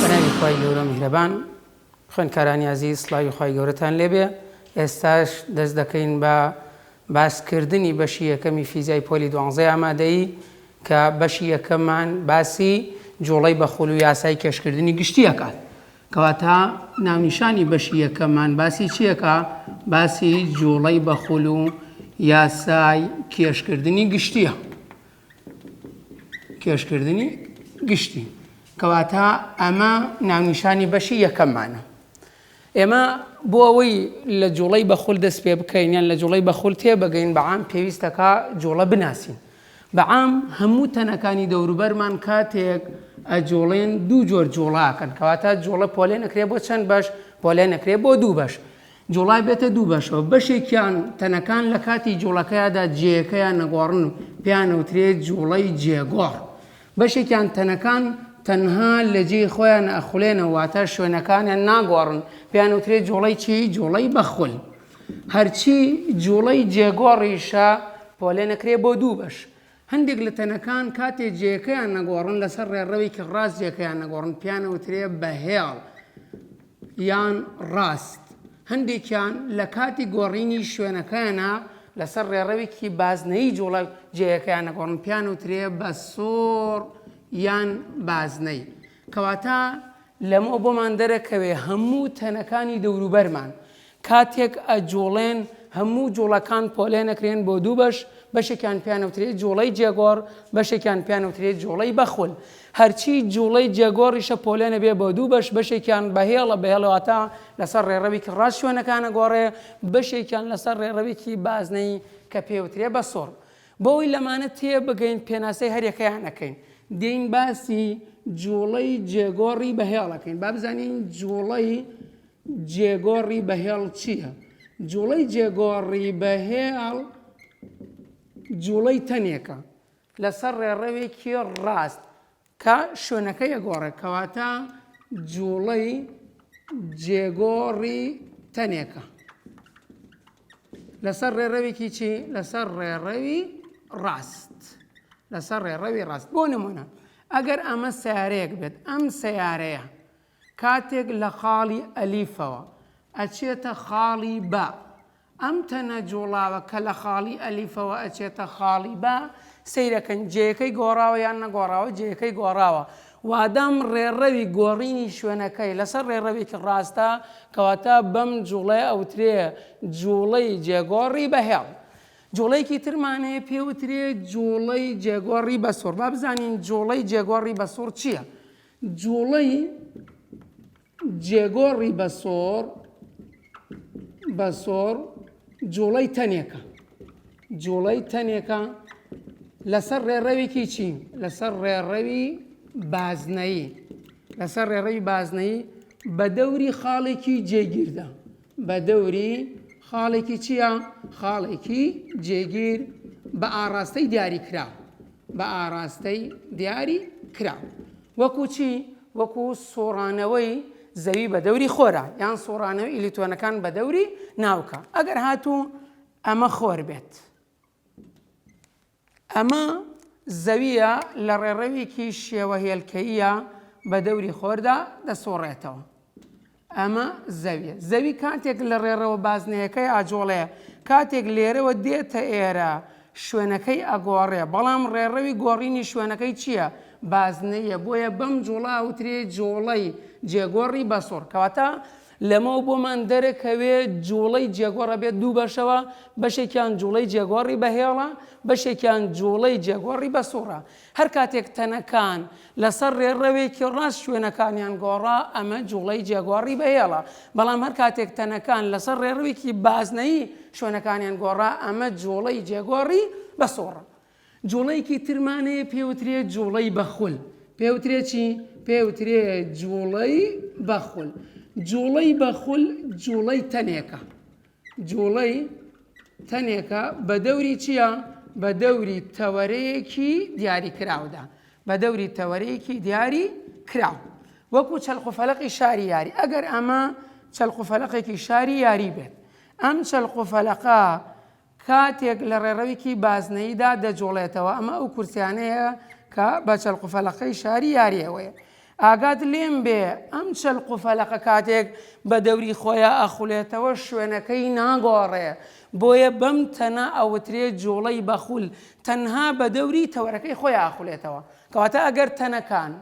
بەناوی خوای گەورە میهرەبان خوێندکارانی ئازیز سڵاوی خوای گەورەتان لێبێ ئێستاش دەست دەکەین بە باسکردنی بەشی یەکەمی فیزیای پۆلی دوانزەی ئامادەیی کە بەشی یەکەمان باسی جوڵەی بەخول و یاسای کێشکردنی گشتیەکات کەواتە ناونیشانی بەشی یەکەممان باسی چیەکا؟ باسی جوڵەی بەخول و یاسای کێشکردنی گشتیە. کێشکردنی گشتی. کەواتە ئەمە ناونیشانی بەشی یەکەممانە. ئێمە بۆ ئەوەی لە جوڵەی بەخول دەست پێ بکەین یان لە جوڵەی بەخول تێبگەین بەعام پێویستەکە جوڵە بناسین. بە عام هەموو تەنەکانی دەوروبەرمان کاتێک ئەجوڵێن دوو جۆر جوڵە ئەکەن کەواتە جوڵە پۆلێن ئەکرێ بۆ چەند بەش پۆلێن ئەکرێ بۆ دوو بەش جوڵای بێتە دوو بەشەوە بەشێکیان تەنەکان لە کاتی جوڵەکەیادا جێەکەیان نەگۆڕن و پێیانەوترێت جوڵەی جێگۆڕ بەشێکیان تەنەکان تەنها لە جێی خۆیان ئەخولێنەوە واتە شوێنەکانیان ناگۆڕن پێیانوترێت جوڵەی چی جوڵەی بەخول هەرچی جووڵەی جێگۆڕیشە پۆلێنەکرێ بۆ دوو بەش. هەندێک لە تەنەکان کاتێ جێیەکەیان نەگۆڕن لەسەر ڕێڕەوێکی ڕاست جێکەیان نەگۆڕن پێیانەوترێ بەهێڵ یان ڕاست. هەندێکیان لە کاتی گۆڕینی شوێنەکەیانا لەسەر ڕێڕەوێکی بازنەیی جووڵە جێیەکەیان نەگۆڕن پێیانەوترێ بە سۆڕ یان بازنەی. کەواتە لەمەوە بۆمان دەرەکەوێ هەموو تەنەکانی دەوروبەرمان کاتێک ئەجوڵێن هەموو جوڵەکان پۆلێن ئەکرێن بۆ دوو بەش، بەشێکیان پێیان ئەوترێ جوڵەی جێگۆڕ، بەشێکیان پێیان ئەوترێ جوڵەی بەخول. هەرچی جوڵەی جێگۆڕیشە پۆلێن ئەبێ بۆ دوو بەش، بەشێکیان بە هێڵە، بە هێڵ واتە لەسەر ڕێڕەوێکی ڕاست شوێنەکان ئەگۆڕێ، بەشێکیان لەسەر ڕێڕەوێکی بازنەیی کە پێی ئەوترێ بەسوڕ. بۆ ئەوەی لەمانە تێ بگەین پێناسەی هەر یەکەیان ئەکەین. دێین باسی جوڵەی جێگۆڕی بە هێڵ ئەکەین. با بزانین جوڵەی جێگۆڕی بەهێڵ چییە؟ جووڵەی جێگۆڕی بەهێڵ جووڵەی تەنێکە لەسەر ڕێڕەوێکی ڕاست کە شوێنەکە یەگۆڕێک کەواتە جووڵەی جێگۆڕی تەنێکە لەسەر ڕێڕەوێکی چی لەسەر ڕێڕەوی ڕاست لەسەر ڕێڕەوی ڕاست بۆ نمونە ئەگەر ئەمە سیارەیەک بێت ئەم سیارەیە کاتێک لە خاڵی ئەلیفەوە ئەچێتە خاڵی با، ئەم تەنە جووڵاوە کە لە خاڵی ئەلیفەوە ئەچێتە خاڵی با، سەیرەکەن جێیەکەی گۆڕاوە یان نەگۆڕاوە؟ جێیەکەی گۆڕاوە. وادەم ڕێڕەوی گۆڕینی شوێنەکەی لەسەر ڕێڕەوێکی ڕاستە، کەواتە بەم جووڵەیە ئەوترێ جووڵەی جێگۆڕی بە هێڵ. جووڵەیەکی ترمان هەیە پێوترێ جووڵەی جێگۆڕی بە سووڕ. با بزانین جووڵەی جێگۆڕی بە سووڕ چییە؟ جووڵەی جێگۆڕی بە سۆڕ، بە سۆڕ، جووڵەی تەنێکە. جووڵەی تەنێکە لەسەر ڕێڕەوێکی چی؟ لەسەر ڕێڕەوی بازنەیی. لەسەر ڕێڕەوی بازنەیی بە دەوری خاڵێکی جێگیردا. بە دەوری خاڵێکی چییە؟ خاڵێکی جێگیر بە ئاڕاستەی دیاریکراو. بە ئاراستەی دیاری کراو وەکو چی؟ وەکو سوڕانەوەی زەوی بە دەوری خۆرا یان سوڕانەوەی ئیلیتۆنەکان بە دەوری ناوکە ئەگەر هاتوو ئەمە خۆر بێت ئەمە زەویە لە ڕێڕەوێکی شێوە هێلکەیە بە دەوری خۆردا دەسوڕێتەوە ئەمە زەویە. زەوی کاتێک لە ڕێڕەوە بازنەیەکەی ئاجۆڵێ، کاتێک لێرەوە دێتە ئێرە شوێنەکەی ئەگۆڕێ، بەڵام ڕێڕەوی گۆڕینی شوێنەکەی چیە؟ بازنەییە، بۆیە بەم جوڵە ئەوترێ جوڵەی جێگۆڕی بەسوڕ. کەواتە لەمەوە بۆمان دەرەکەوێ جوڵەی جێگۆڕ ئەبێت دوو بەشەوە، بەشێکیان جوڵەی جێگۆڕی بەهێڵە، بەشێکیان جوڵەی جێگۆڕی بەسوڕە. هەر کاتێک تەنەکان لەسەر ڕێڕەوێکی ڕاست شوێنەکانیان گۆڕا، ئەمە جوڵەی جێگۆڕی بەهێڵە، بەڵام هەر کاتێک تەنەکان لەسەر ڕێڕەوێکی بازنەیی شوێنەکانیان گۆڕا، ئەمە جوڵەی جێگۆڕی بە سووڕە. جوڵەیەکی ترمان هەیە پێوترێ جوڵەی بە خول. پێوترێ چی؟ پێوترێ جوڵەی بە خول. جوڵەی بە خول جوڵەی تەنێکە. جووڵەی تەنێکە بە دەوری چییە؟ بە دەوری تەوەرەیەکی دیاریکراودا، بە دەوری تەوەرەیەکی دیاری کراو وەکو چەلقوفەلقی شاری یاری ئەگەر ئەمە چەلقوفەلقێکی شاری یاری بێت ئەم چەلقوفەلقە کاتێک لە ڕێڕەوێکی بازنەیدا دەجوڵێتەوە ئەمە ئەو کورسیانەیە کە بە چەلقوفەلقەی شاری یاریەوەیە ئاگات لێم بێ ئەم چەلق و فەلەقە کاتێک بە دەوری خۆیا ئەخولێتەوە شوێنەکەی ناگۆڕێ بۆیە بەم تەنە ئەوترێ جوڵەی بەخول تەنها بە دەوری تەوەرەکەی خۆیا ئەخولێتەوە کەواتە ئەگەر تەنەکان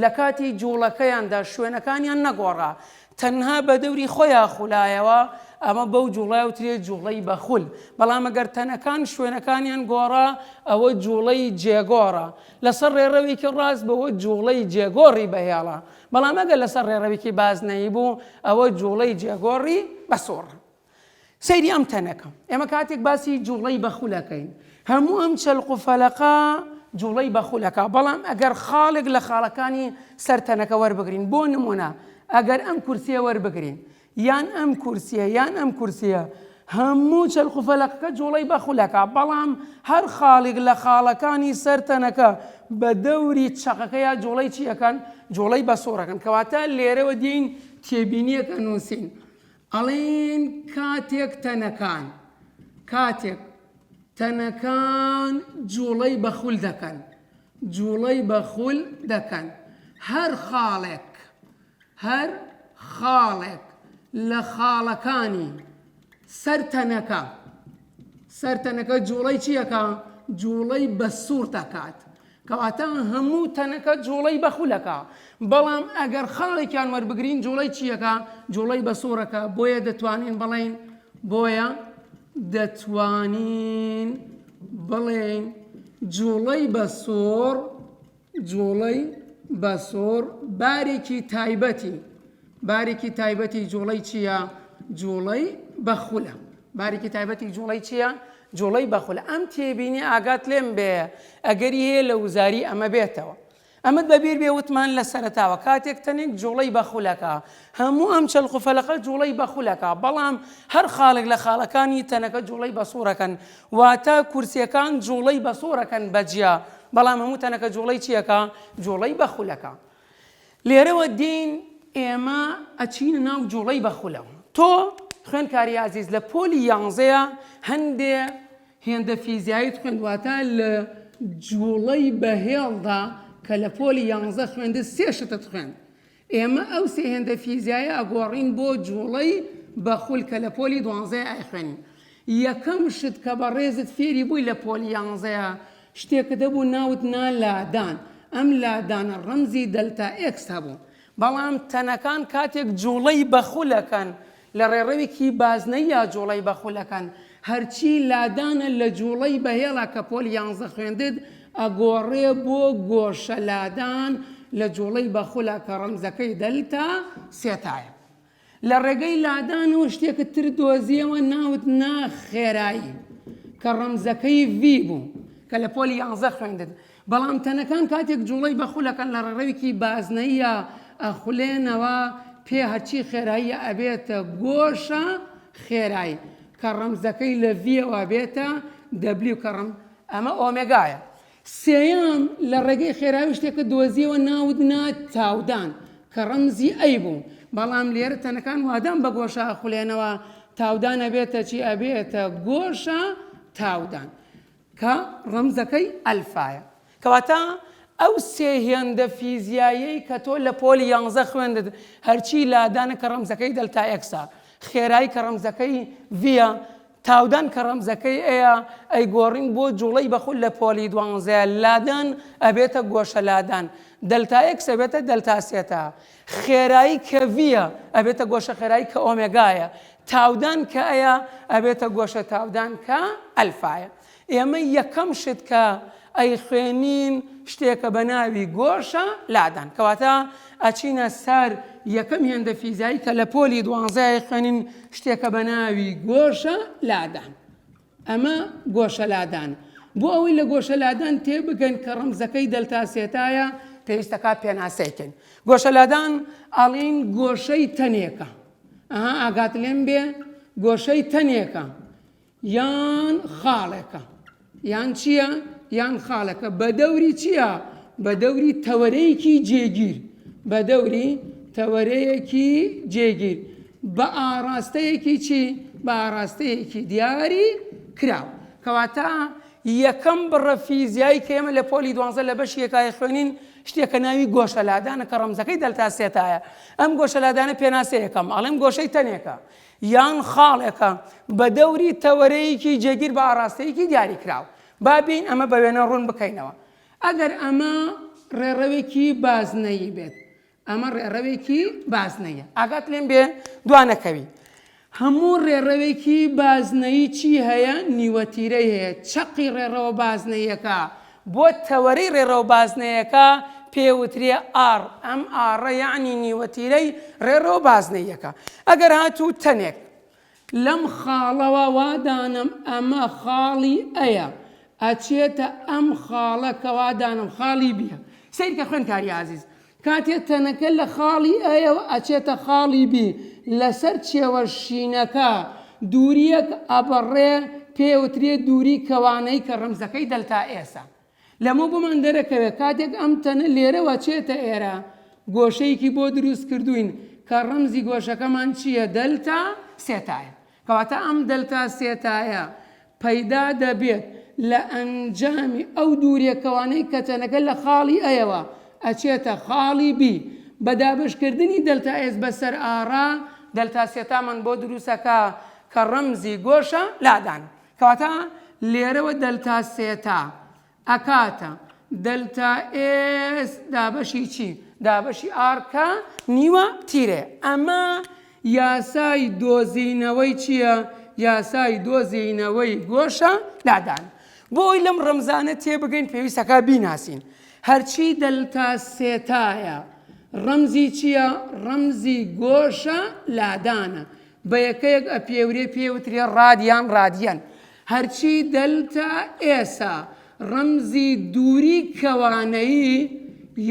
لە کاتی جوڵەکەیاندا شوێنەکانیان نەگۆڕا تەنها بە دەوری خۆیا خولایەوە، ئەمە بەو جوڵە ئەوترێت جوڵەی بەخول، بەڵام ئەگەر تەنەکان شوێنەکانیان گۆڕا ئەوە جوڵەی جێگۆڕە، لەسەر ڕێڕەوێکی ڕاست بوو جوڵەی جێگۆڕی بەهێڵە، بەڵام ئەگەر لەسەر ڕێڕەوێکی بازنەیی بوو ئەوە جوڵەی جێگۆڕی بەسووڕە. سەیری ئەم تەنەکە. ئێمە کاتێک باسی جوڵەی بەخول ئەکەین هەموو ئەم چەلق و فەلەقە جوڵەی بەخول ئەکا بەڵام ئەگەر خاڵێک لە خاڵەکانی سەر تەنەکە وەربگرین بۆ نموونە ئەگەر ئەم کورسیە وەربگرین یان ئەم کورسیە یان ئەم کورسیە هەموو چەلق و فەلەقەکە جوڵەی بەخول ئەکا بەڵام هەر خاڵێک لە خاڵەکانی سەر تەنەکە بە دەوری چەقەکە یا جوڵەی چی ئەکەن جوڵەی بەسوڕ ئەکەن کەواتە لێرەوە دێین تێبینیەک ئەنووسین ئەڵێن کاتێک تەنەکان کاتێک تەنەکان جووڵەی بە خول دەکەن جووڵەی بە خول دەکەن هەر خاڵێک هەر خاڵێک لە خاڵەکانی سەر تەنەکە سەر تەنەکە جووڵەی چیەکە جووڵەی بە سوور دەکات کەواتە هەموو تەنەکە جوڵەی بە خولەکە بەڵام ئەگەر خاڵێکیان وەربگرین جوڵەی چیەکە جوڵەی بە سۆرەکە بۆیە دەتوانین بڵین بۆیە دەتوانین بڵێن جوڵەی بە سۆر جوڵەی بە سۆر بارێکی تایبەتی بارێکی تایبەتی جووڵەی چییە؟ جووڵەی بەخولە. بارێکی تایبەتی جووڵەی چییە؟ جووڵەی بەخولە. ئەم تێبینییە ئاگات لێم بێ، ئەگەری هەیە لە وزاری ئەمە بێتەوە. ئەمەت بە بیر بێ وتمان لە سەرەتاوە، کاتێک تەنێک جووڵەی بەخولەکە، هەموو ئەم چەلق و فەلقە جووڵەی بەخولەکە، بەڵام هەر خاڵێک لە خاڵەکانی تەنەکە جووڵەی بەسووڕەکەن. واتە کورسییەکان جووڵەی بەسووڕەکەن بە جیا، بەڵام هەموو تەنەکە جووڵەی چییەکە؟ جووڵەی بەخولەکە. لێرەوە دێین ئێمە ئەچینە ناو جوڵەی بەخولەوە. تۆ خوێندکاری ئازیز لە پۆلی یانزەیە هەندێ هێندە فیزیایت خوێند واتە لە جوڵەی بەهێڵدا کە لە پۆلی یانزە خوێندت سێ شتت خوێند ئێمە ئەو سێ هێندە فیزیایە ئەگۆڕین بۆ جوڵەی بەخول کە لە پۆلی دوانزەیە ئەخوێنین یەکەم شت کە بە ڕێزت فێری بووی لە پۆلی یانزەیە شتێکت هەبوو ناوت نا لادان، ئەم لادانە ڕەمزی دەلتا ئێکس هەبوو، بەڵام تەنەکان کاتێک جوڵەی بە خولەکەن لە ڕێڕەوێکی بازنەییا جوڵەی بە خولەکەن، هەرچی لادانە لە جوڵەی بە هێڵە کە پۆلی یانزە خوێندت ئەگۆڕێ بۆ گۆشە لادان لە جوڵەی بە خولە کە ڕەمزەکەی دەلتا سێتایە. لە ڕێگەی لادان و شتێکت تر دۆزیەوە ناوت نا خێرایی کە ڕەمزەکەی ڤی بوو کە لە پۆلی یانزە خوێندت بەڵام تەنەکان کاتێک جوڵەی بە خولەکەن لە ڕێڕەوێکی بازنەیە ئەخولێنەوە پێ هەرچی خێراییە ئەبێتە گۆشە خێرایی کە ڕەمزەکەی لە ڤیەوە بێتە دەبلی کەڕم ئەمە ئۆمێگایە سێیەم، لە ڕێگەی خێرایی شتێکت دۆزیەوە ناوت نا تاودان، کە ڕەمزی ئەی بوو، بەڵام لێرە تەنەکان وادان بە گۆشە ئەخولێنەوە، تاودان ئەبێتە چی ئەبێتە گۆشە تاودان، کە ڕەمزەکەی ئەلفایە. کەواتە ئەو سێ هێندە فیزیاییەی کە تۆ لە پۆلی یانزە خوێندت، هەرچی لادانە کە ڕەمزەکەی دەلتا ئێکسە، خێرایی کە ڕەمزەکەی ڤیە، تاودان کە ڕەمزەکەی ئەیە ئەیگۆڕین بۆ جوڵەی بە خول لە پۆلی دوانزە، لادان ئەبێتە گۆشە لادان، دەلتا ئێکس ئەبێتە دەلتا سێتا، خێرایی کە ڤییە ئەبێتە گۆشە خێرایی کە ئۆمێگایە، تاودان کە ئەیە ئەبێتە گۆشە تاودان کە ئەلفایە. ئێمە یەکەم شت کە ئەیخوێنین شتێکە بە ناوی گۆشە لادان کەواتە ئەچینە سەر یەکەم هێندە فیزایی کە لە پۆلی دوانزای خوێنین شتێکە بە ناوی گۆشە لادان ئەمە گۆشە لادان بۆ ئەوەی لە گۆشە لادان تێ بگەن کە ڕەمزەکەی دەلتاسێتایە پێویستەکە پێناسەیکەن گۆشە لادان ئاڵین گۆشەی تەنێکە ئەها ئاگات لێم بێ گۆشەی تەنێکە یان خاڵێکە یان چییە یان خاڵەکە بە دەوری چییە بە دەوری تەوەرەیەکی جێگیر بە دەوری تەوەرەیەکی جێگیر بە ئاراستەیەکی چی بە ئاراستەیەکی دیاری کراو کەواتە یەکەم بڕە فیزیایی کە ئێمە لە پۆلی دوانزە لە بەش یەکای خوێنین شتێکە ناوی گۆشەلادانە کە ڕەمزەکەی دەلتاسێتایە ئەم گۆشەلادانە پێناسەیەکەم ئەڵێم گۆشەی تەنێکە یان خاڵێکە بە دەوری تەوەرەیەکی جێگیر بە ئاڕاستەیەکی دیاریکراو. با بێین ئەمە بە وێنە ڕوون بکەینەوە. ئەگەر ئەمە ڕێڕەوێکی بازنەیی بێت، ئەمە ڕێڕەوێکی بازنەییە. ئاگات لێم بێ دوا نەکەوی. هەموو ڕێڕەوێکی بازنەیی چی هەیە؟ نیوەتیرەی هەیە. چەقی ڕێڕەوە بازنەییەکە بۆ تەوەرەی ڕێڕەو بازنەیەکە پێ وترێ ئاڕ، ئەم ئاڕە یەعنی نیوەتیرەی ڕێڕەو بازنەییەکە. ئەگەر هاتوو تەنێک. لەم خاڵەوە وا دانەم ئەمە خاڵی ئەیە، ئەچێتە ئەم خاڵە کە وا دانەم خاڵی بیە. سەیرکە خوێندکاری ئازیز. کاتێ تەنەکە لە خاڵی ئەیەوە ئەچێتە خاڵی بی لەسەر چێوە شینەکە دوورییەک ئەبڕێ پێوترێ دووری کەوانەیی کە ڕەمزەکەی دەلتا ئێسە لەمە بۆمان دەرەکەوێ کاتێک ئەم تەنە لێرەوە چێتە ئێرە گۆشەیەکی بۆ دروست کردووین کە ڕەمزی گۆشەکەمان چییە دەلتا سێتایە کەواتە ئەم دەلتا سێتایە پەیدا دەبێت لە ئەنجامی ئەو دوورێکەوانەی کە چەنەکە لە خاڵی ئەیەوە ئەچێتە خاڵی بی بە دابەشکردنی دەلتا ئێس بە سەر ئاڕا دەلتا سێتامان بۆ دروستەکا کە ڕەمزی گۆشە لادان کەواتە لێرەوە دەلتا سێتا ئەکاتە، دەلتا ئێس دابەشی چی؟ دابەشی ئاڕ کە نیوە تیرەیە. ئەمە یاسای دۆزینەوەی چییە؟ یاسای دۆزینەوەی گۆشە لادان. بۆ ئەوەی لەم ڕەمزانە تێبگەین پێویستە کە بیناسین. هەرچی دەلتا سێتایە ڕەمزی چییە؟ ڕەمزی گۆشە لادانە. بە یەکەیەک ئەپێورێ پێی وترێ ڕاد یان ڕادیەن. هەرچی دەلتا ئێسا ڕەمزی دووری کەوانەیی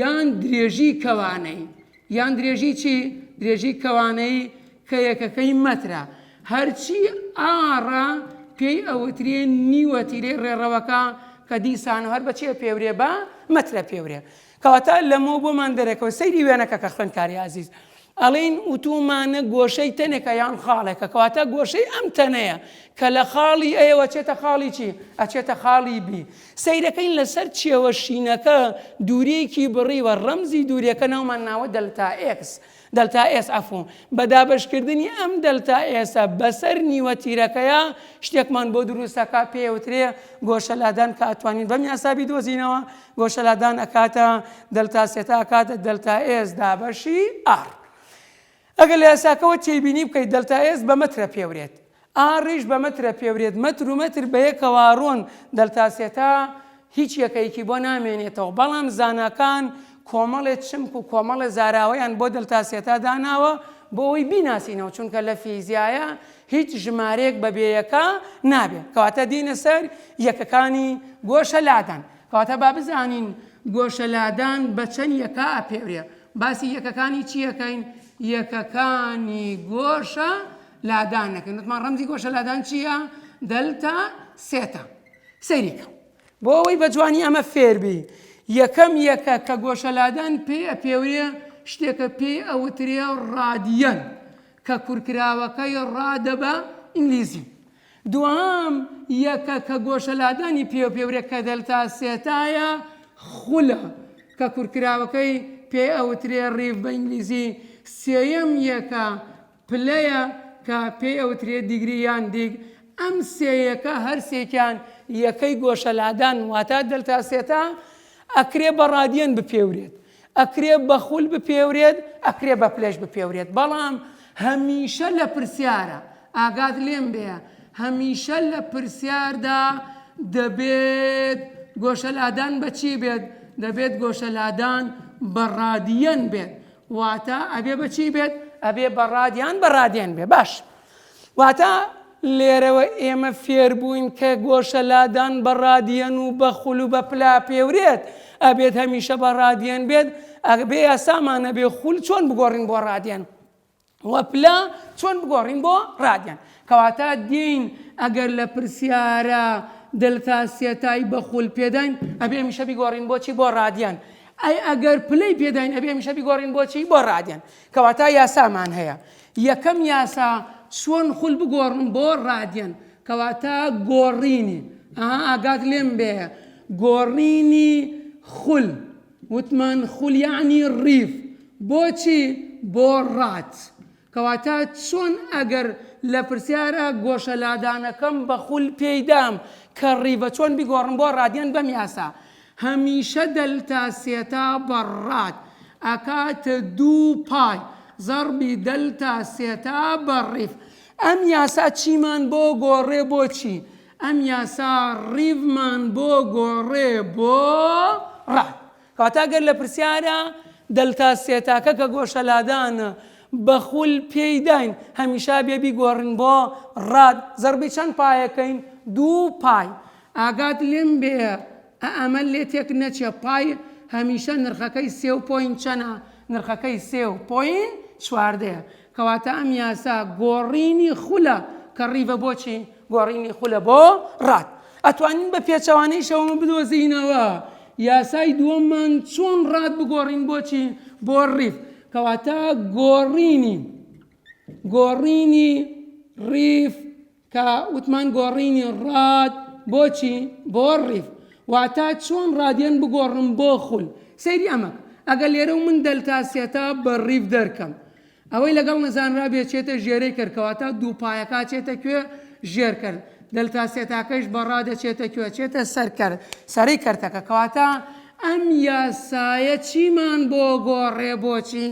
یان درێژی کەوانەیی یان درێژی چی؟ درێژی کەوانەیی کە یەکەکەی مەترە. هەرچی ئاڕا پێی ئەوترێ نیوەتیرەی ڕێڕەوەکە کە دیسانەوە هەر بە چێ پێورێ؟ بە مەترە پێورێ. کەواتە لەمەو بۆمان دەرەکەوە سەیری وێنەکە کە خوێندکاری ئازیز ئەڵین وتومانە گۆشەی تەنێکە یان خاڵێکە کەواتە گۆشەی ئەم تەنەیە کە لە خاڵی ئەیەوە چێتە خاڵی چی ئەچێتە خاڵی بی سەیرەکەین لەسەر چێوە شینەکە دوورێکی بڕیوە ڕەمزی دوورەکە ناومان ناوە دەلتا ئێکس دەلتا ئێس ئەف و بە دابەشکردنی ئەم دەلتا ئێسە بەسەر نیوە تیرەکەیا شتێکمان بۆ دروست ئەکا پێوترێ گۆشە لادان کە ئەتوانین بەم یاسا بیدۆزینەوە گۆشە لادان ئەکاتە دەلتا سێتا ئەکاتە دەلتا ئێس دابەشی ئار ئەگەر لە یاساکەوە تێبینی بکەیت دەلتا ئێس بە مەترە پێورێت ئا ڕیش بە مەترە پێورێت مەتر و مەتر بە یەکەوە ڕۆن دەلتا سێتا هیچ یەکەیەکی بۆ نامێنێتەوە بەڵام زاناکان کۆمەڵێ چمک و کۆمەڵێ زاراوەیان بۆ دەلتا سێتا داناوە بۆ ئەوەی بیناسینەوە چونکە لە فیزیایە هیچ ژمارەیەک بە بێ یەکە نابێ کەواتە دێینە سەر یەکەکانی گۆشە لادان کەواتە با بزانین گۆشە لادان بە چەند یەکە ئەپێورێ باسی یەکەکانی چیەکەین یەکەکانی گۆشە لادان دەکەین وتمان ڕەمزی گۆشە لادان چییە دەلتا سێتا سەیریکە بۆ ئەوەی بە جوانی ئەمە فێربی یەکەم یەکە کە گۆشەلادان پێ پێوەیە شتێکە پێی ئەوترێ ڕادیەن کە کورکراوەکەی ڕادە بە ئینگلیزی دوام یەکە کە گۆشەلادانی پێ پێورێ کە دەلتا سێتایە خولە کە کورکراوەکەی پێ ئەوترێ ڕیف بە ئینگلیزی سێەم یەکە پلەیە کە پێی ئەوترێ دیگری یان دیگ، ئەم سێ یەکە هەرسێکیان یەکەی گۆشە لادان واتە دەلتا سێتا، ئەکرێ بە ڕادیەن بپێورێت، ئەکرێ بە خول بپێورێت، ئەکرێ بە پلەش بپێورێت بەڵام هەمیشە لە پرسیارە ئاگات لێم بێ هەمیشە لە پرسیاردا دەبێت گۆشە لادان بە چی بێت؟ دەبێت گۆشە لادان بە ڕادیەن بێت واتە ئەبێ بە چی بێت ئەبێ بە ڕاد یان بە ڕادێن بێ باش واتە لێرەوە ئێمە فێربووین کە گۆشە لادان بە ڕادیەن و بە خول و بە پلا پێورێت ئەبێت هەمیشە بە ڕادیەن بێت ئەگبێ یاسامانە بێ خول چۆن بگۆڕین بۆ ڕادێن وە پلە چۆن بگۆڕین بۆ ڕادیان. کەواتە دێین ئەگەر لە پرسیارە دلتا سێتای بە خول پێداین ئەبێ هەمیشە بیگۆڕین بۆ چی بۆ ڕادیان ئەی ئەگەر پلەی پێداین ئەبێ هەمیشە بیگۆڕین بۆ چی بۆ ڕادیان کەواتە یاسامان هەیە یەکەم یاسا چۆن خول بگۆڕن بۆ ڕادیان کەواتە گۆڕینی ئاگات لێم بێ گۆڕینی خول وتمان خول یەعنی ڕیڤ بۆچی بۆ ڕات کەواتە چۆن ئەگەر لە پرسیارە گۆشە لادانەکەم بە خول پێی دام کە ڕیڤە چۆن بیگۆڕم بۆ ڕادیەن بەم یاسا هەمیشە دەلتا سێتا بە ڕات ئەکاتە دوو پای زەڕبی دەلتا سێتا بە ڕیڤ ئەم یاسا چیمان بۆ گۆڕێ بۆچی ئەم یاسا ڕیڤمان بۆ گۆڕێ بۆ ڕەح. کەواتە گەر لە پرسیارە دەلتا سێتاکە کە گۆشە لادانە بە خول پێی داین هەمیشە بێ بیگۆڕن بۆ ڕاد زەربی چەند پایە کەین دوو پای. ئاگات لێم بێ ئە ئەمە لێ تێک نەچێ پای هەمیشە نرخەکەی سێ و پۆینت چەنە نرخەکەی سێ و پۆینت چواردەیە کەواتە ئەم یاسا گۆڕینی خولە کە ڕیڤە بۆ چی؟ گۆڕینی خولە بۆ ڕات. ئەتوانین بە پێچەوانەیشەوەمە بدۆزینەوە یاسای دووەممان چۆن ڕات بگۆڕین بۆچی بۆ ڕیف کەواتە گۆڕینی گۆڕینی ڕیف کە وتمان گۆڕینی ڕاد بۆچی بۆ ڕیف واتا چۆن ڕادیەن بگۆڕم بۆ خول سەیری ئەمە ئەگەر لێرە و من دەلتا سێتا بە ڕیف دەرکەم ئەوەی لەگەڵ نەزانرا بێچێتە ژێرەی کەرکەواتە دوو پایەکە چێتە کوێ ژێر کرد دەلتا سێتاکەش بەڕا دەچێتە کوێ چێتە سەر کرد سەری کردەکە کەواتە ئەم یاسایە چیمان بۆ گۆڕێ بۆچی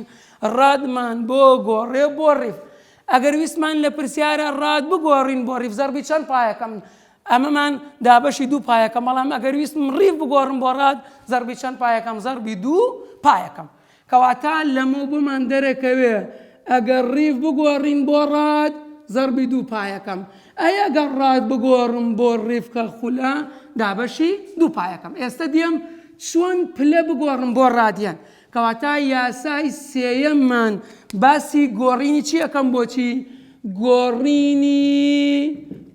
ڕادمان بۆ گۆڕێ بۆ ڕیف ئەگەر ویستمان لە پرسیارە ڕات بگۆڕین بۆ ڕیڤ زەڕبی چەند پایەکەم ئەمەمان دابەشی دوو پایەکەم بەڵام ئەگەر ویستم ڕیڤ بگۆڕم بۆ ڕات زەڕبی چەند پایەکەم زەڕبی دوو پایەکەم کەواتە لەمە بۆمان دەرەکەوێ ئەگەر ڕیڤ بگۆڕین بۆ ڕات زەڕبی دوو پایەکەم ئەی ئەگەر ڕات بگۆڕم بۆ ڕیفکە خولە دابەشی دوو پایەکەم ئێستا دێم چۆن پلە بگۆڕم بۆ ڕادیان کەواتە یاسای سێیەممان باسی گۆڕینی چی ئەکەم بۆچی گۆڕینی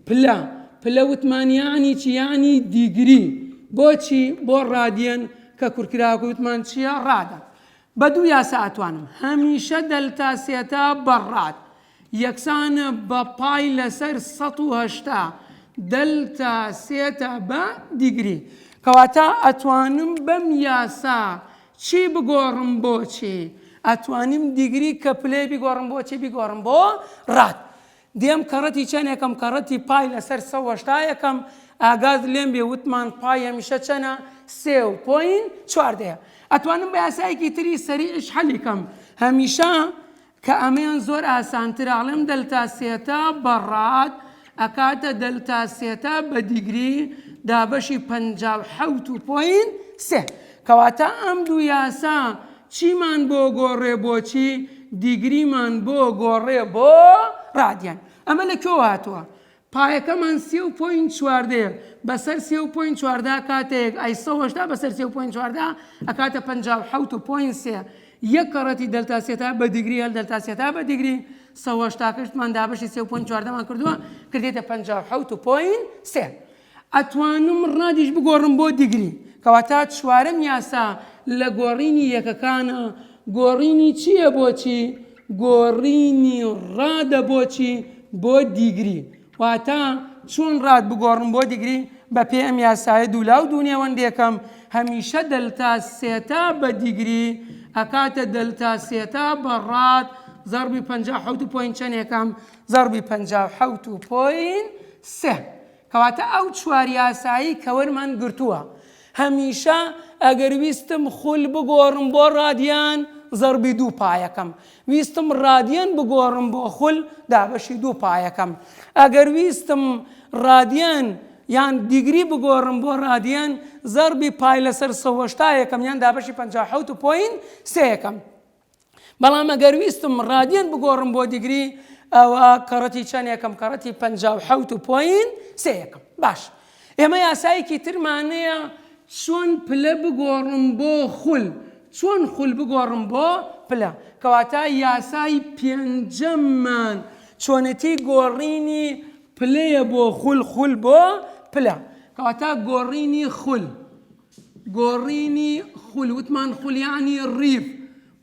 پلە پلە وتمان یانی چی یانی دیگری بۆچی بۆ ڕادیەن کە کورکراوەکە وتمان چییە ڕادە بە دوو یاسا ئەتوانم هەمیشە دەلتا سێتا بە ڕاد یەکسان بە پای لەسەر سەد و هەشتا دەلتا سێتا بە دیگری. کەواتە ئەتوانم بەم یاسا چی بگۆڕم بۆ چی؟ ئەتوانیم دیگری کەپلەی بیگۆڕم بۆ چی؟ بیگۆڕم بۆ راد. دێم کەڕەتی چەنێکەم کەڕەتی پای لەسەر سەد و هەشتا یەکەم، ئاگات لێم بێ وتمان پای هەمیشە چەنە؟ سێ و پۆینت چواردەیە. ئەتوانم بە یاسایەکی تری سەریعیش حەلی کەم. هەمیشە. کە ئەمەیان زۆر ئاسانترە ئەڵێم دەلتا سێتا بە ڕات ئەکاتە دەلتا سێتا بە دیگری دابەشی پەنجا و حەوت و پۆینت سێ کەواتە ئەم دوو یاسا چیمان بۆ گۆڕێ بۆچی دیگریمان بۆ گۆڕێ بۆ ڕادیان ئەمە لە کۆ هاتووە پایەکەمان سێ و پۆینت چواردەیە بەسەر سێ و پۆینت چواردە ئەکاتە یەک ئەی سەد و هەشتا بەسەر سێ و پۆینت چواردە ئەکاتە پەنجا و حەوت و پۆینت سێ یەک کەڕەتی دەلتا سێتا بە دیگری هەل دەلتا سێتا بە دیگری سەد و هەشتا کەشتمان دابەشی سێ و پۆینت چواردەمان کردووە کردێتە پەنجا و حەوت و پۆینت سێ ئەتوانم ڕادیش بگۆڕم بۆ دیگری کەواتە چوارەم یاسا لە گۆڕینی یەکەکانە گۆڕینی چییە بۆچی؟ گۆڕینی ڕادە بۆ چی؟ بۆ دیگری. واتە چۆن ڕاد بگۆڕم بۆ دیگری؟ بەپێی ئەم یاسایە دوولا و دوونێوەندێکەم هەمیشە دەلتا سێتا بە دیگری ئەکاتە دەلتا سێتا بە ڕاد زەڕبی پەنجا و حەوت و پۆین چەنێکەم زەڕبی پەنجا و حەوت و پۆین سێ. کەواتە ئەو چوار یاسایەی کە وەرمان گرتووە، هەمیشە ئەگەر ویستم خول بگۆڕم بۆ ڕادیان، زەڕبی دوو پایەکەم، ویستم ڕادیان بگۆڕم بۆ خول، دابەشی دوو پایەکەم، ئەگەر ویستم ڕادیان یان دیگری بگۆڕم بۆ ڕادیان، زەڕبی پای لەسەر سەوەشتایەکەم یان دابەشی پەنجا و حەوت و پۆینت سێیەکەم. بەڵام ئەگەر ویستم ڕادیەن بگۆڕم بۆ دیگری ئەوە کەڕەتی چەند یەکەم کەڕەتی پ حوت و پۆین سێ یەکەم باش ئێمە یاسایەکی ترمانەیە چۆن پلە بگۆڕم بۆ خول چۆن خول بگۆڕم بۆ پلە کەواتە یاسای پێنجەممان چۆنەتی گۆڕینی پلەیە بۆ خول خول بۆ پلە کەواتە گۆڕینی خول گۆڕینی خول وتمان خول یانی ڕیف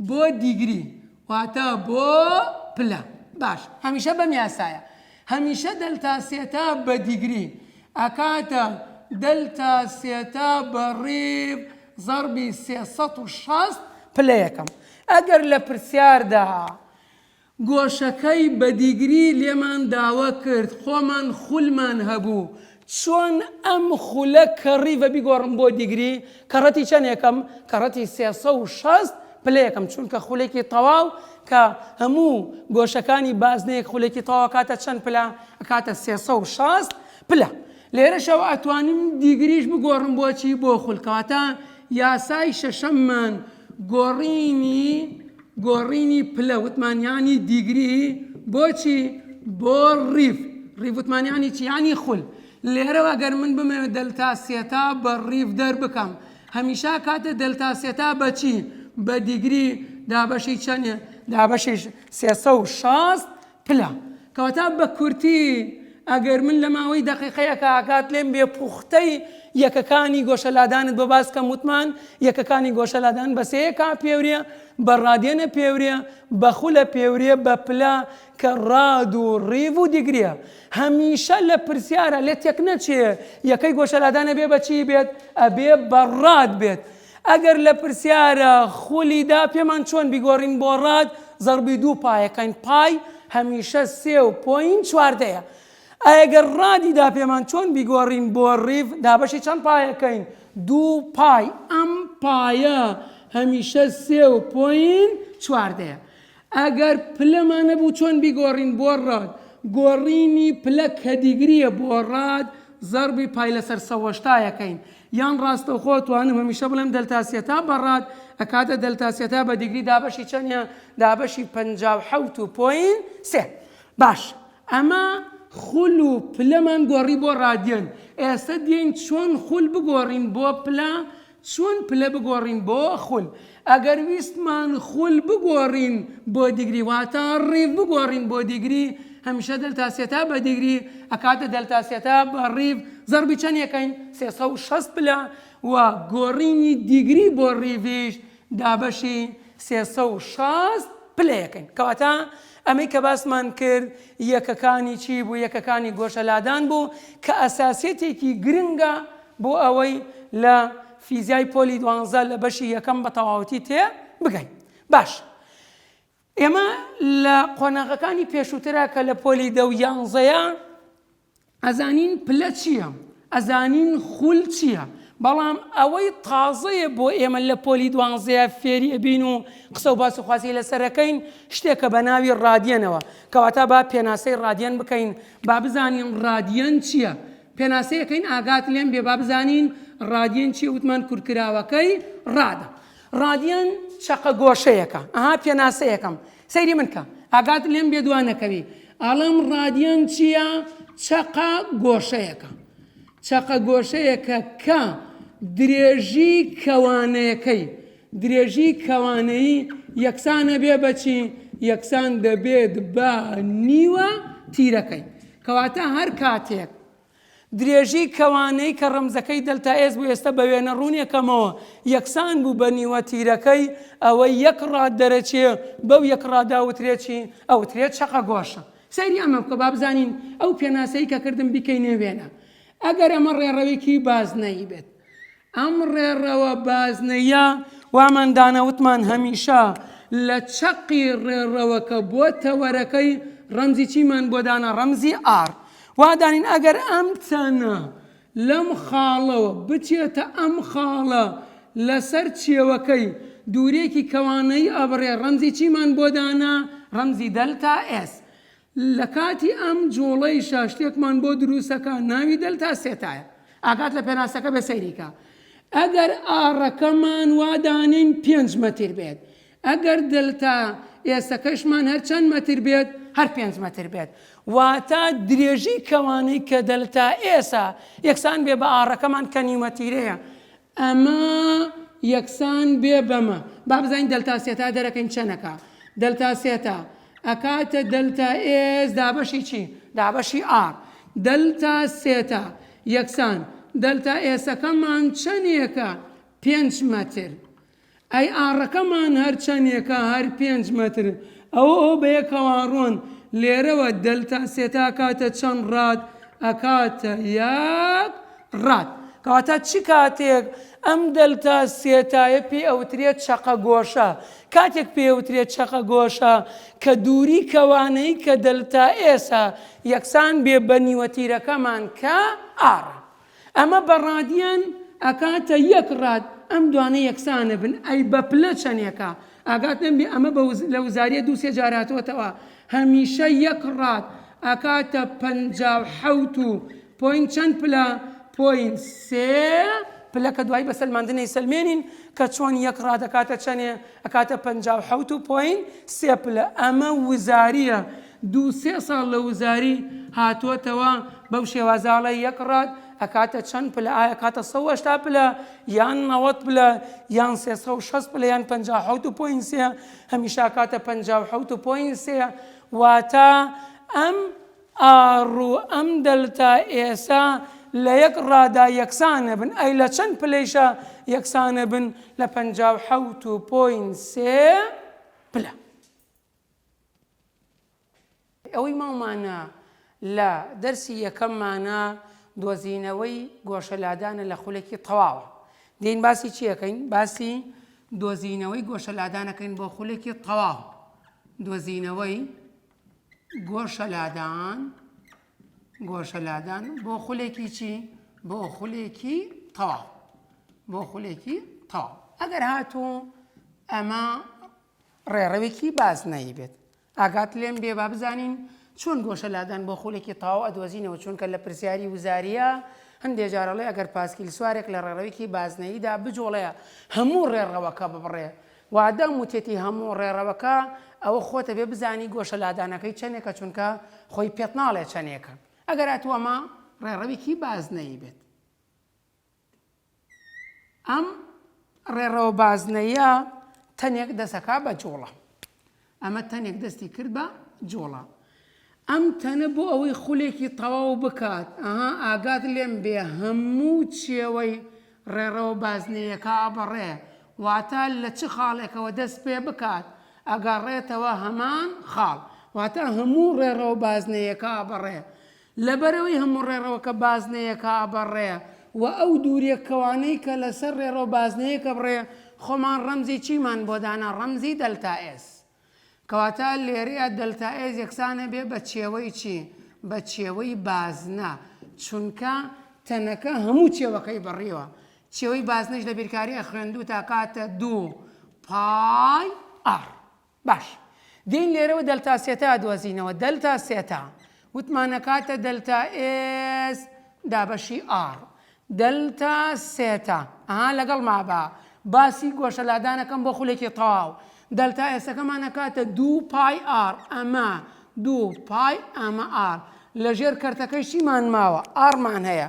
بۆ دیگری واتە بۆ پلە باش هەمیشە بەم یاسایە هەمیشە دەلتا سێتا بە دیگری ئەکاتە دەلتا سێتا بە ڕیف زەڕبی سێ سەد و شەست پلە یەکەم ئەگەر لە پرسیاردا گۆشەکەی بە دیگری لێمان داوە کرد خۆمان خولمان هەبوو. چۆن ئەم خولە کەڕیڤە بیگۆڕم بۆ دیگری؟ کەڕەتی چەنێکم؟ کەڕەتی سێ سەد و شەست پلەیەکم چونکە خولێکی تەواو کە هەموو گۆشەکانی بازنەیەک خولێکی تەواو ئەکاتە چەند پلە؟ ئەکاتە سێ سەد و شەست پلە. لێرەشەوە ئەتوانم دیگریش بگۆڕم بۆ چی؟ بۆ خول. کەواتە یاسای شەشەممان گۆڕینی. گۆڕینی پلە وتمان یانی دیگری بۆچی بۆ ڕیڤ ڕیڤ وتمان یانی چی یانی خول لێرەوە گەر من بمەوێت دەلتا سێتا بە ڕیڤ دەربکەم هەمیشا کاتێ دەلتا سێتا بەچی بە دیگری دابەشی چەنێ دابەشی سێسە و شاست پلە. کەواتە بە کورتی ئەگەر من لە ماوەی دەقیقەیەکا کات لێم بێ پوختەی یەکەکانی گۆشە لادانت بۆ باس کەم وتمان یەکەکانی گۆشە لادان بە سێ یەکا پێورێ، بە ڕادێنە پێورێ، بە خولە پێورێ، بە پلە کە ڕاد و ڕیڤ و دیگریە. هەمیشە لە پرسیارا لێ تێک نەچێ یەکەی گۆشە لادان ئەبێ بە چی بێت؟ ئەبێ بە ڕاد بێت. ئەگەر لە پرسیارە خولی دا پێمان چۆن بیگۆڕین بۆ ڕاد زەڕبی دوو پایەکەین پای هەمیشە سێ و پۆین چواردەیە ئایە گەر ڕادی دا پێمان چۆن بیگۆڕین بۆ ڕیڤ دابەشی چەند پایەکەین دوو پای ئەم پایە هەمیشە سێ و پۆین چواردەیە ئەگەر پلەمان نەبوو چۆن بیگۆڕین بۆ ڕاد؟ گۆڕینی پلە کەدیگریە بۆ ڕاد زەڕبی پای لەسەر سەوەشتا یەکەین یان ڕاستەوخۆ توانم هەمیشە بڵێم دەلتا سیەتا بە ڕاد ئەکاتە دەلتا سیەتا بە دیگری دابەشی چەنیە دابەشی پەنجا و حەوت و پۆین سێ باش ئەمە خول و پلەمان گۆڕی بۆ ڕادیەن ئێستا دێین چۆن خول بگۆڕین بۆ پلە چۆن پلە بگۆڕین بۆ خول؟ ئەگەر ویستمان خول بگۆڕین بۆ دیگری واتە ڕیڤ بگۆڕین بۆ دیگری هەمیشە دەلتا سێتا بە دیگری ئەکاتە دەلتا سێتا بە ڕیڤ زەڕبی چەند یەکەین سێ سەد و شەست پلە و گۆڕینی دیگری بۆ ڕیڤیش دابەشی سێ سەد و شەست پلە یەکەین کەواتە ئەمەی کە باسمان کرد یەکەکانی چی بوو؟ یەکەکانی گۆشە لادان بوو کە ئەساسیەتێکی گرنگە بۆ ئەوەی لە فیزیای پۆلی دوانزە لە بەشی یەکەم بە تەواوەتی تێ بگەین. باش ئێمە لە قۆناغەکانی پێشووترا کە لە پۆلی دە و یانزەیە، ئەزانین پلە چییە، ئەزانین خول چییە، بەڵام ئەوەی تازەیە بۆ ئێمە لە پۆلی دوانزەیە فێری ئەبین و قسە و باس و خواسی لەسەر ئەکەین، شتێکە بە ناوی ڕادیەنەوە. کەواتە با پێناسەی ڕادیەن بکەین، با بزانین ڕادیەن چییە. پێناسەی ئەکەین ئاگات لێم بێ با بزانین ڕادیەن چییە، وتمان کورتکراوەکەی ڕادە. ڕادیەن چەقە گۆشەیەکە. ئەها پێناسەیەکەم. سەیری من کە ئاگات لێم بێ دوا نەکەوی ئەڵم ڕادیۆم چییە چەقە گۆشەیەەکە چەقە گۆشەیەکە کە درێژی کەوانەیەەکەی درێژی کەوانەیی یەکسانە بێ بەچی یەکسان دەبێت بە نیوە تیرەکەی کەواتە هەر کاتێک درێژیی کەوانەی کە ڕەمزەکەی دەلتا ئێس بوو ئێستە بە وێنە ڕوونێکەمەوە یەکسان بوو بە نیوە تیرەکەی، ئەوەی یەک ڕاد دەرەچێ بەو یەک ڕادە ئەوترێ چی؟ ئەوترێ چەقەگۆشە. سەیری ئەمە بکە با بزانین ئەو پێناسەی کە کردم بیکەینێ وێنە. ئەگەر ئەمە ڕێڕەوێکی بازنەیی بێت. ئەم ڕێڕەوە بازنەییە وامان دانا وتمان هەمیشە لە چەقی ڕێڕەوەکە بۆ تەوەرەکەی ڕەمزی چیمان بۆ دانا ڕەمزی ئار وا دانین ئەگەر ئەم چەنە لەم خاڵەوە بچێتە ئەم خاڵە لەسەر چێوەکەی دوورێکی کەوانەی ئەبڕێ ڕەمزی چیمان بۆ دانا ڕەمزی دەلتا ئێس لە کاتی ئەم جوڵەیشا شتێکمان بۆ دروستەکا ناوی دەلتا سێتایە ئاگات لە پێناسەکە بێ سەیری کە ئەگەر ئاڕەکەمان وا دانێین پێنج مەتر بێت ئەگەر دەلتا ئێسەکەشمان هەر چەند مەتر بێت هەر پێنج مەتر بێت واتا درێژی کەوانەی کە دەلتا ئێسە یەکسان بێ بە ئاڕەکەمان کە نیومەتیرەیە ئەمە یەکسان بێ بەمە. با بزانین دەلتا سێتا دەرەکەین چەند ئەکا. دەلتا سێتا ئەکاتە دەلتا ئێس دابەشی چی؟ دابەشی ئاڕ. دەلتا سێتا یەکسان دەلتا ئێسەکەمان چەنێکە؟ پێنج مەتر. ئەی ئاڕەکەمان هەر چەنێکە هەر پێنج مەتر ئەوە ئەو بەیەکەوە ڕۆن لێرەوە دەلتا سێتا کاتە چەند ڕات ئەکاتە یەک ڕات کەواتە چ کاتێک ئەم دەلتا سێتایە پێ ئەوترێت چەقە گۆشە کاتێک پێ ئەوترێت چەقە گۆشە کە دووری کەوانەی کە دەلتا ئێسە یەکسان بێ بەنیوە تیرەکەمان کە ئاڕ ئەمە بە ڕادیان ئەکاتە یەک ڕاد ئەم دوانە یەکسانە بن ئەی بە پلە چەنێکە ئاگات نەمبی ئەمە بە وز لە وزاریە دوو سێ جار هاتۆتەوە هەمیشە یەک ڕاد ئەکاتە پەنجا و حەوت و پۆین چەند پلە پۆین سێ پلە کە دوای بە سەلماندنەی سەلمێنین کە چۆن یەک ڕاد ئەکاتە چەنێ ئەکاتە پەنجا و حەوت و پۆین سێ پلە ئەمە وزاریە دوو سێ ساڵ لە وزاری هاتووەتەوە بەو شێوازە ئاڵای یەک ڕاد ئەکاتە چەند پلە ئایا ئەکاتە سەد و هەشتا پلە یان نەوەد پلە یان سێ سەد و شەست پلە یان پەنجا و حەوت و پۆینت سێ هەمیشە ئەکاتە پەنجا و حەوت و پۆینت سێ واتە ئەم ئاڕ و ئەم دەلتا ئێسە لە یەک ڕادا یەکسانە بن ئەی لە چەند پلەیشا یەکسانە بن لە پەنجا و حەوت و پۆینت سێ پلە. ئەوەی ماومانە لە دەرسی یەکەممانە دۆزینەوەی گۆشە لادانە لە خولەکی تەواوە دین باسی چیەکەین باسی دۆزینەوەی گۆشە لادانەکەین بۆ خولێکی تەواو دۆزینەوەی گۆشە لادان گۆشە لادان بۆ خولێکی چی بۆ خولێکی تەواو بۆ خولێکی تەواو ئەگەر هاتوو ئەمە ڕێڕەوێکی بازنەیی بێت. ئاگات لێم بێ با بزانین چۆن گۆشە لادان بۆ خولێکی تاو ئەدۆزینەوە چونکە لە پرسیاری وزاریە هەندێ جار ئەڵێ ئەگەر پاسکیل سوارێک لە ڕێڕەوێکی بازنەییدا بجوڵێ هەموو ڕێڕەوەکە ببڕێ وادەم وتێتی هەموو ڕێڕەوەکە ئەوە خۆت ئەبێ بزانی گۆشە لادانەکەی چەنێکە چونکە خۆی پێت ناڵێ چەنێکە ئەگەر ئەتوەمە ڕێڕەوێکی بازنەیی بێت. ئەم ڕێڕەوە بازنەیە تەنێک دەسەکا بە جوڵە. ئەمە تەنێک دەستی کرد بە جوڵە. ئەم تەنە بۆ ئەوەی خولێکی تەواو بکات ئەها ئاگات لێم بێ هەموو چێوەی ڕێڕەوە بازنەیەکە ئەبڕێ واتە لە چ خاڵێکەوە دەست پێ بکات ئەگەڕێتەوە هەمان خاڵ واتە هەموو ڕێڕەوە بازنەیەکە ئەبڕێ لەبەرئەوەی هەموو ڕێڕەوەکە بازنەیەکە ئەبڕێ و ئەو دووریە کەوانەی کە لەسەر ڕێڕەو بازنەیەک ئەبڕێ خۆمان ڕەمزی چیمان بۆ دانا ڕەمزی دەلتا ئێس کەواتە لێرەیا دەلتا ئێس یەکسان ئەبێ بە چێوەی چی بە چێوەی بازنە چونکە تەنەکە هەموو چێوەکەی بڕیوە چێوەی بازنەش لە بیرکاری ئەخوێندوو تا کاتە دوو پای ئەڕ باش. دێین لێرەوە دەلتا سێتا دۆزینەوە، دەلتا سێتا وتمان ئەکاتە دەلتا ئێس دابەشی ئاڕ. دەلتا سێتا ئەها لەگەڵما با باسی گۆشە لادانەکەم بۆ خولێکی تەواو. دەلتا ئێسەکەمان ئەکاتە دوو پای ئاڕ ئەمە دوو پای ئەمە ئاڕ. لە ژێر کەرتەکەی چیمان ماوە؟ ئاڕمان هەیە.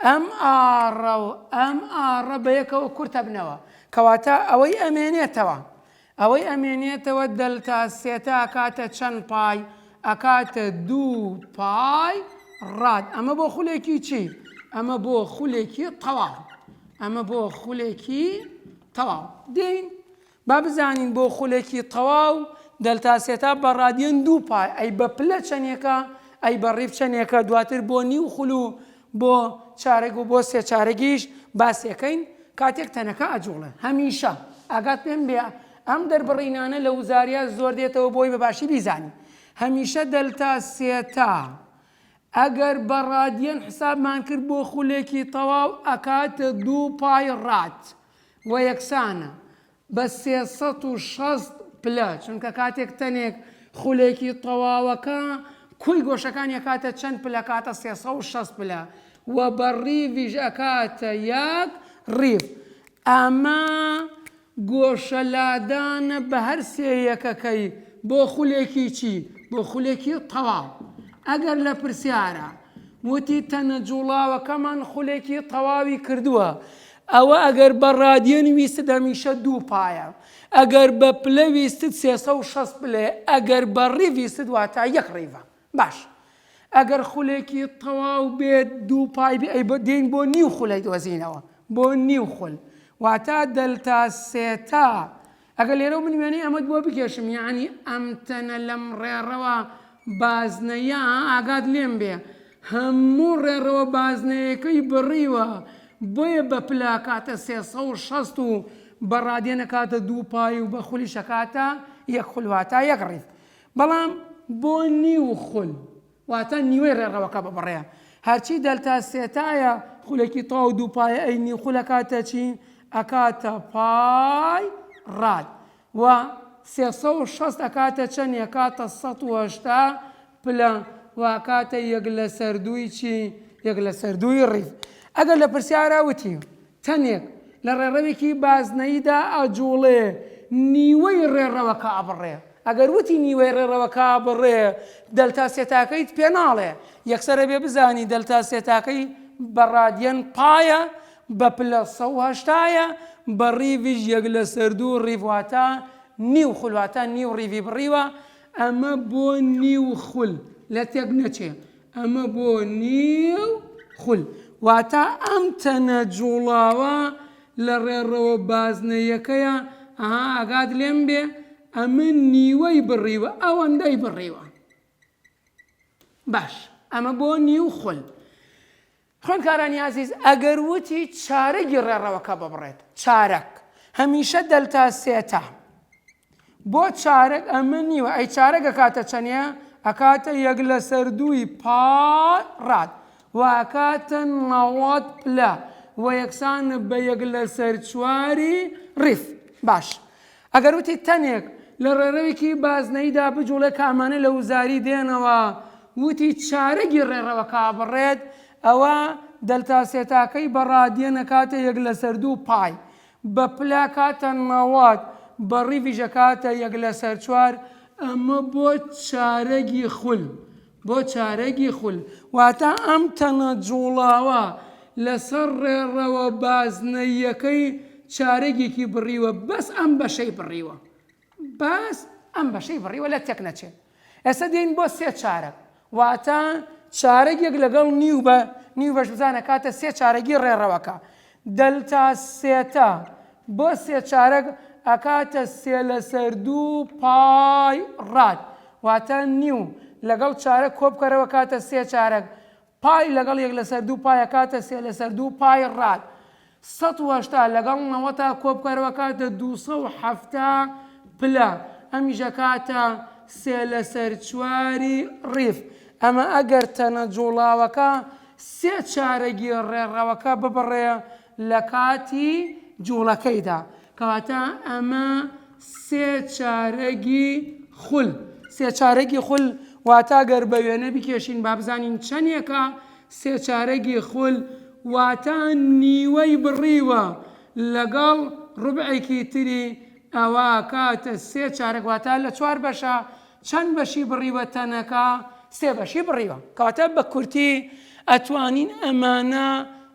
ئەم ئاڕە و ئەم ئاڕە بە یەکەوە کورتەبنەوە. کەواتە ئەوەی ئەمێنێتەوە. ئەوەی ئەمێنێتەوە دەلتا سێتا ئەکاتە چەن پای؟ ئەکاتە دوو پای ڕاد. ئەمە بۆ خولێکی چی؟ ئەمە بۆ خولێکی تەواو. ئەمە بۆ خولێکی تەواو. دێین با بزانین بۆ خولێکی تەواو دەلتا سێتا بە ڕادیەن دوو پای ئەی بە پلە چەنێکە؟ ئەی بە ڕیف چەنێکە؟ دواتر بۆ نیو خول و بۆ چارەگ و بۆ سێ چارەگیش باسیەکەین، کاتێک تەنەکە ئەجوڵێ. هەمیشە ئاگات لێم بێ ئەم دەربڕینانە لە وزاریا زۆر دێتەوە بۆی بە باشی بیزانی. هەمیشە دەلتا سێتا ئەگەر بە ڕادیەن حسابمان کرد بۆ خولێکی تەواو ئەکاتە دوو پای ڕات و یەکسانە. بە سێ سەد و شەست پلە، چونکە کاتێک تەنێک خولێکی تەواوەکە کوی گۆشەکانی ئەکاتە چەند پلە کاتە سێ سەد و شەست پلە و بە ڕیڤیش ئەکاتە یەک ڕیڤ ئەمە گۆشە لادانە بە هەر سێ یەکەکەی بۆ خولێکی چی بۆ خولێکی تەواو ئەگەر لە پرسیارە وتی تەنە جوڵاوەکەمان خولێکی تەواوی کردووە ئەوە ئەگەر بە ڕادیەن ویستت هەمیشە دوو پایە، ئەگەر بە پلە ویستت سێ سەد و شەست پلەیە، ئەگەر بە ڕیڤ ویستت واتە یەک ڕیڤە. باشە ئەگەر خولێکی تەواو بێت دوو پای بێ ئەی دێین بۆ نیو خولەی دۆزینەوە بۆ نیو خول واتە دەلتا سێتا ئەگەر لێرەو من وێنەی ئەمەت بۆ بکێشم یعنی ئەم تەنە لەم ڕێڕەوە بازنەیە ئاگات لێم بێ هەموو ڕێڕەوە بازنەیەەکەی بڕیوە بۆیە بە پلاکاتە سێسە و شەست و بە ڕادێنەکاتە دوو پای و بە خولی شەکاتە یەک خولواتە یەک ڕیف بەڵام بۆ نیو خول واتە نیوەی ڕێڕەوەکە ببڕێ. هەرچی دەلتا سێتایە خولەکی تەواو دووپایە ئەی نیو خول ئەکاتە چی؟ ئەکاتە پای ڕاد. وە سێ سەد و شەست ئەکاتە چەنی؟ ئەکاتە سەد و هەشتا پلە و ئەکاتە یەک لەسەر دووی چی؟ یەک لەسەر دووی ڕیز. ئەگەر لە پرسیارا وتی. تەنێک لە ڕێڕەوێکی بازنەییدا ئەجووڵێ، نیوەی ڕێڕەوەکە ئەبڕێ. ئەگەر وتی نیوەی ڕێڕەوەکە ئەبڕێ، دەلتا سێتاکەیت پێ ناڵێ. یەکسەر ئەبێ بزانی دەلتا سێتاکەی بە ڕادیەن پایە، بە پلە سەد و هەشتا یە، بە ڕیڤیش یەک لەسەر دوو ڕیڤ واتە نیو خول واتە نیو ڕیڤی بڕیوە، ئەمە بۆ نیو خول لە تێک نەچێ. ئەمە بۆ نیو خول واتا ئەم تەنە جوڵاوە لە ڕێڕەوە بازنە یەکەیە ئەها ئاگات لێم بێ ئەمن نیوەی بڕیوە ئەوەندەی بڕیوە باش ئەمە بۆ نیو خول خوێندکارانی ئازیز ئەگەر وتی چارەگی ڕێڕەوەکە ببڕێت چارەگ هەمیشە دەلتا سێتە بۆ چارەگ ئەمە نیوە ئەی چارەگ ئەکاتە چەنێ ئەکاتە یەک لەسەر دووی پا ڕات واکاتە نەوەت پلە و یەکسانە بە یەک لەسەر چواری ڕیف باش ئەگەر وتیت تەنێک لە ڕێڕەوێکی بازنەییدا بجوڵێ کە ئەمانە لە وزاری دێنەوە، وتی چارەگی ڕێڕەوەکە ئەبڕێت، ئەوا دەلتا سێتاکەی بە ڕادیەن ئەکاتە یەک لەسەر دوو، پای بە پلە ئەکاتە نەوەد، بە ڕیڤیش ئەکاتە یەک لەسەر چوار، ئەمە بۆ چارەگی خول. بۆ چارەگی خول، واتە ئەم تەنە جوڵاوە لەسەر ڕێڕەوە بازنەییەکەی چارەگێکی بڕیوە بەس ئەم بەشەی بڕیوە بەس ئەم بەشەی بڕیوە لە تێکنەچێ ئێستا دێین بۆ سێ چارەگ واتە چارەگێک لەگەڵ نیو بە نیو بەش بزانە کاتە سێ چارەگی ڕێڕەوەکە دەلتا سێتا بۆ سێ چارەک ئەکاتە سێ لەسەر دوو پای ڕاد واتە نیو لەگەڵ چارەک کۆبکەرەوە کاتە سێ چارەک پای لەگەڵ یەک لەسەر دوو پای ئەکاتە سێ لەسەر دوو پای ڕاد سەد و هەشتا لەگەڵ نەوەتا کۆبکەرەوە کاتە دوو سەد و حەفتا پلە ئەمیش ئەکاتە سێ لەسەر چواری ڕیف ئەمە ئەگەر تەنە جوڵاوەکە سێ چارەگی ڕێڕەوەکە ببڕێ لە کاتی جووڵەکەیدا. کەواتە ئەمە سێ چارەگی خول. سێ چارەگی خول واتە گەر بە وێنە بکێشین با بزانین چەندێکە، سێ چارەگی خول واتە نیوەی بڕیوە لەگەڵ ڕوبعێکی تری، ئەوا کاتە سێ چارەگ واتە لە چوار بەشە، چەند بەشی بڕیوە تەنەکە؟ سێ بەشی بڕیوە کەواتە بە کورتی ئەتوانین ئەمانە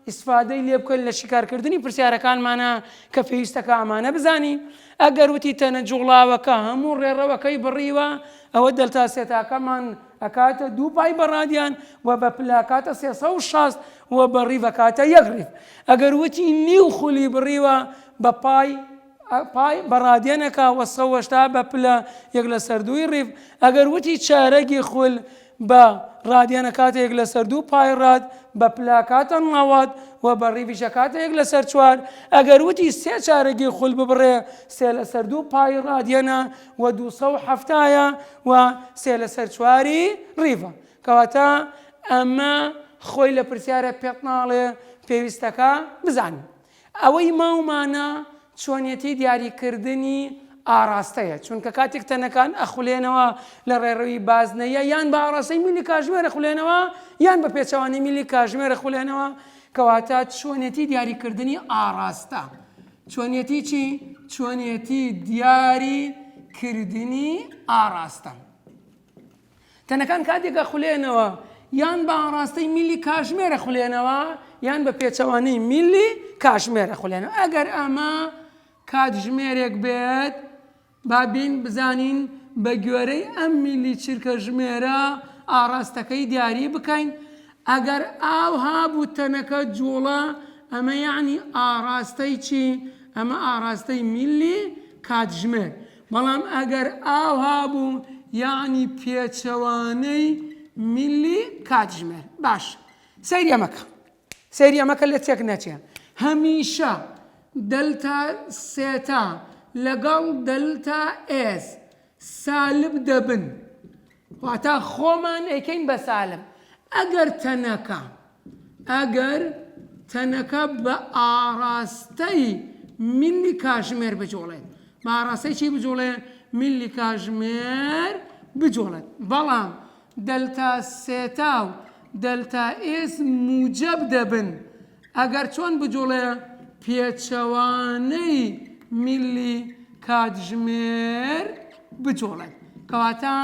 ئیسفادەی لێ بکەین لە شیکارکردنی پرسیارەکانمانە کە پێویستەکە ئەمانە بزانین ئەگەر وتی تەنە جوڵاوەکە هەموو ڕێڕەوەکەی بڕیوە ئەوە دەلتا سێتاکەمان ئەکاتە دوو پای بەڕادیان و بە پلاکاتە سێسە و شاست و بە ڕیڤەکاتە یەک ڕیف ئەگەر وتی نیو خولی بڕیوە بە پای پای بە ڕادێنەکە وە سە وەشتا بە پلە یەک لە سەر دووی ڕیڤ ئەگەر وتی چارەگی خول بە ڕادێنە کاتە یەک لە سەر دوو پای ڕاد بە پلا کاتە ڕاوات وە بە ڕیڤیشە کاتە یەک لە سەر چوار ئەگەر وتی سێ چارەگی خول ببڕێ سێ لە سەر دوو پای ڕادێنە وە دوو سە و حەفتایە وە سێ لە سەر چواری ڕیڤە کەواتە ئەمە خۆی لە پرسیارە پێت ناڵێ پێویستەکە بزانین ئەوەی ماومانە چۆنیەتی دیاریکردنی ئاڕاستەیە، چونکە کاتێک تەنەکان ئەخولێنەوە لە ڕێڕەوی بازنەیە یان بە ئاڕاستەی میلی کاژمێر ئەخولێنەوە یان بە پێچەوانەی میلی کاژمێر ئەخولێنەوە، کەواتە چۆنیەتی دیاریکردنی ئاڕاستە چۆنیەتی چی؟ چۆنیەتی دیاریکردنی ئاڕاستە. تەنەکان کاتێک ئەخولێنەوە یان بە ئاڕاستەی میلی کاشمێر ئەخولێنەوە یان بە پێچەوانەی میلی کاشمێر ئەخولێنەوە ئەگەر ئەمە کاتژمێرێک بێت با بین بزانین بە گوێرەی ئەم میلی چرکە ژمێرە ئاڕاستەکەی دیاری بکەین ئەگەر ئاو هابوو تەنەکە جوڵە ئەمە یعنی ئاڕاستەی چی ئەمە ئاڕاستەی میلی کاتژمێر بەڵام ئەگەر ئاوها بوو یەعنی پێچەوانەی میلی کاتژمێر باشە سەیری ئەمەکە سەیری ئەمەکە لە تێک نەچێ هەمیشە دەلتا سێتا لەگەڵ دەلتا ئێس سالب دەبن واتا خۆمان ئەیکەین بە سالب ئەگەر تەنەکە ئەگەر تەنەکە بە ئاڕاستەی ملی کاژمێر بجوڵێت بە ئاڕاستەی چی بجوڵێ ملی کاژمێر بجوڵێت بەڵام دەلتا سێتا و دەلتا ئێس موجەب دەبن ئەگەر چۆن بجوڵێ پێچەوانەی ملی کاتژمێر بجوڵێت کەواتە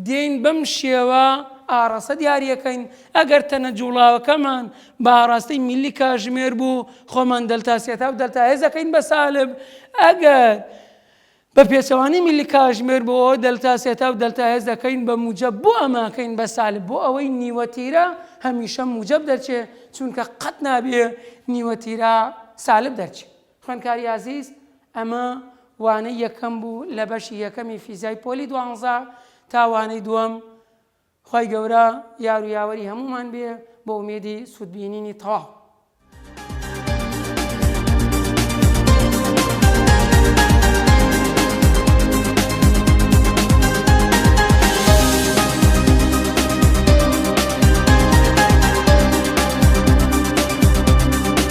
دێین بەم شێوە ئاڕاستە دیاری ئەکەین، ئەگەر تەنە جوڵاوەکەمان بە ئاڕاستەی میللی کاژمێر بوو، خۆمان دەلتا سێتا و دەلتا هێز ئەکەین بە سالب، ئەگەر بە پێچەوانەی میللی کاژمێر بوو ئەوە دەلتا سێتا و دەلتا هێز ئەکەین بە موجەب، بۆ ئەمە ئەکەین بە سالب؟ بۆ ئەوەی نیوە تیرە هەمیشە موجەب دەرچێ، چونکە قەت نابێ نیوە تیرە سالب دەرچێ. خوێندکاری ئازیز ئەمە وانەی یەکەم بوو لە بەشی یەکەمی فیزیای پۆلی دوانزە تا وانەی دووەم خوای گەورە یار و یاوەری هەمومان بێ بۆ ئومێدی سوودبینینی تەواو